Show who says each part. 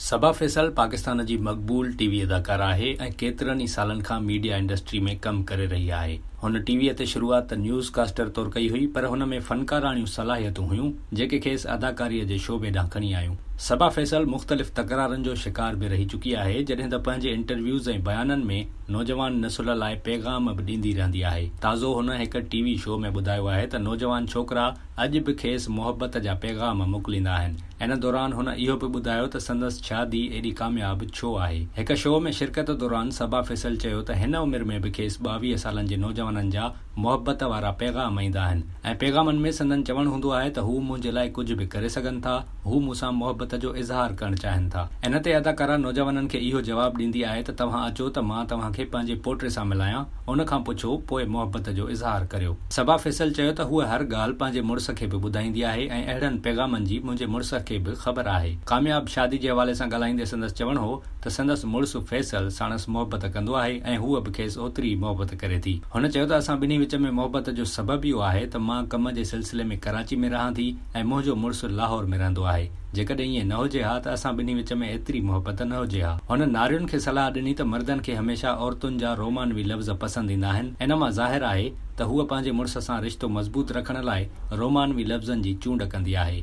Speaker 1: صبا فيصل پاڪستان جي مقبول T V اداڪاره آهي ۽ ڪيترن ئي سالن کان ميڊيا انڊسٽري ۾ ڪم ڪري رهي آهي. هن ٽي وي تي شروعات ته نيوز ڪاسٽر طور ڪئي هئي پر هن ۾ فنڪاراڻيون صلاحيتون هيون جيڪي کيس اداڪاري جي شعبي ڏانهن کڻي آيون. صبا فيصل مختلف تڪرارن جو شڪار به رهي چڪي آهي جڏهن ته پنهنجي انٽرويوز ۽ بيانن ۾ نوجوان نسل لاء پيغام به ڏيندي رهندي آهي. تازو هن هڪ ٽي وي شو ۾ ٻڌايو آهي ته نوجوان ڇوڪرا اڄ به کيس محبت جا پيغام موڪليندا آهن. ان دوران هن اهو به ٻڌايو ته سندس شادي ايڏي ڪامياب ڇو آهي. هڪ شو ۾ شرڪت دوران صبا فيصل چيو ته هن عمر ۾ به کيس ٻاويهه سالن جي نوجوانن جا محبت وارا پيغام ايندا آهن ۽ پيغامن ۾ سندن چوڻ هوندو آهي ته هو منهنجي لاء ڪجهه به ڪري سگهن ٿا، هو مون سان محبت جو اظهار ڪرڻ چاهين ٿا. ان تي اداڪارا نوجوانن کي اهو جواب ڏيندي آهي ته توهان اچو ته مان توهان کي پنهنجي پوٽي سان ملايان. ان کان پڇو پوء محبت جو اظهار ڪريو. صبا فيصل چيو ته هوء هر ڳالهه پنهنجي مڙس کي به ٻڌائيندي آهي ۽ اهڙن پيغامن جي منهنجي مڙس کي به خبر آهي. ڪامياب شادي جي حوالي سان ڳالهائيندي سندس چوڻ هو ته سندس مڙس فيصل ساڻس محبت ڪندو آهي ۽ هوء به کيس اوتري ئي محبت ڪري ٿي. هن چيو ته اسان ٻنهي وچ ۾ محبت جو سبب اهو آهي ته مان ڪم جي سلسلي ۾ ڪراچي ۾ رهان ٿي، ۽ منهنجو مڙس لاهور ۾ رهندو آهي. جيڪڏهن ائين نه هجي ها ته اسان ٻنهي وچ ۾ ايتري محبت نه هجي ها. هن نارين کي صلاح ڏني ته مردن کي هميشه عورتن جا رومانوي لفظ پسند ايندا آهن. ان مان ظاهر آهي ته هوء پنهنجي مڙس سان رشتو مضبوط رکڻ لاء رومانوي لفظن جي چونڊ ڪندي آهي.